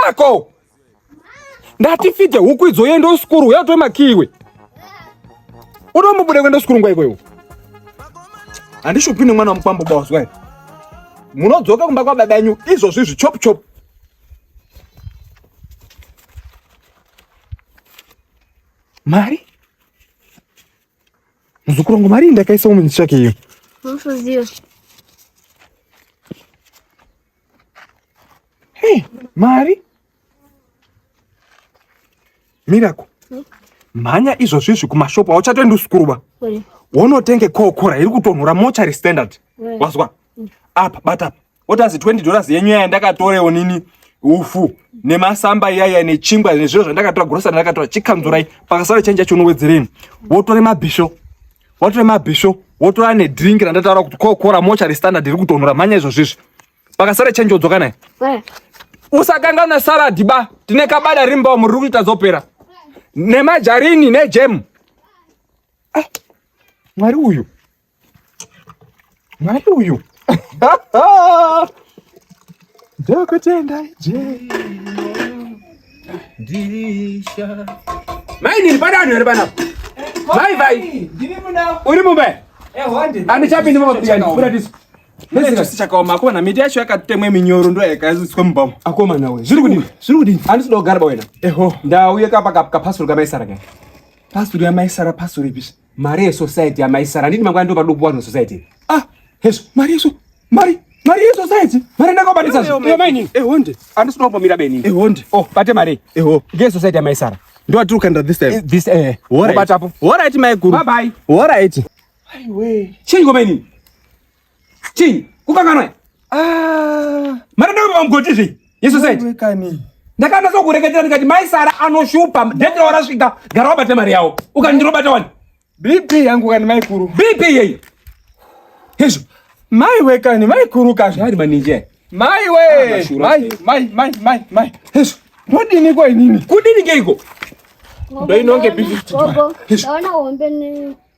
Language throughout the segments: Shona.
yako ndati fidze huku idzo yende usikuru uya utore makiwe unombobuda kuenda usikuru nguva ikweyo handishupi nemwana wamukwambo bawazwa munodzoka kumba kwababa yenyu izvozvi zvichop chop mari muzukuru wangu mari ndakaisa mumichake iyo Hey, mari mirako hmm? mhanya izvozvi izvi kumashopu hauchatoendi usikuruba wonotenge kokora iri kutonhora mochari standard wazwa hmm. apa bata apa otazi 20 dollars yenyu yaya ndakatorewo nini ufu nemasamba iyaya nechingwa nezviro zvandakatora grosari ndakatora chikanzurai pakasara chenja chonowedzereni wotore mabhisho watora mabhisho wotora nedrink randataura kuti kokora mocha restandard iri kutonhora mhanya izvozvo izvi pakasara change odzoka naye eh. usakanganwa salad ba tine kabada rimbawo muri kuti tazopera nemajarini nejemu eh. mwari uyu Mwari uyu. Ndokutenda je. Ndisha. Mai nini pada vanhu vari panapa? Mai vai. Ndiri muna. Uri mumba. Eh honde. Andichapindi mumba kuti ndikuda tisu. Ndizika sichakaoma akoma miti yacho yakatemwe minyoro ndo yakaiswa mubhamu. Akoma nawe. Zviri kudini? Zviri kudini? Andisi dogara bawena. Eho. Ndauye kapa kapa pasuru kamaisara kaya. Pasuru yamaisara pasuru ipi? mari yesociety amai sara ndini mangwana ndo paduku wanu society ah hezvo mari yeso mari mari yesociety mari ndakabatisa zvamaini ehonde andisina kumbomira beni ehonde oh bate mari eho ngesociety amai sara ndo atiri kuenda this time eh, this eh obatapo horaiti mai guru bye bye horaiti aiwe chinyi komaini Chii? Kukanganwa? Ah. Mara ndio mgoti zvi. Yesu said. Wewe kani? Ndakana so kureketera ndikati mai Sara anoshupa. Date wala swika. Gara wabate mari yao. Ukandiro bata wani. BP yangu kani mai kuru. BP yeyi. Yesu. Mai wewe kani mai kuru kani. Shari maninje. Mai wewe. Ah, mai mai mai mai mai. Yesu. Mbodi niko inini. Kudini ngeiko? Ndio inonge BP. Yesu. Naona uombe ni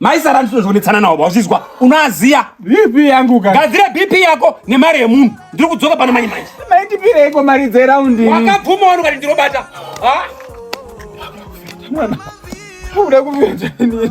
maisara ndinozvionetsana nawo vazvizwa unoaziya bp yangu ka gadzire bp yako nemari yemunhu ndiri kudzoka pano manje manje maitipireiko mari dzeraundi wakabvuma wani ukati ndinobata mwana uda kuvira chani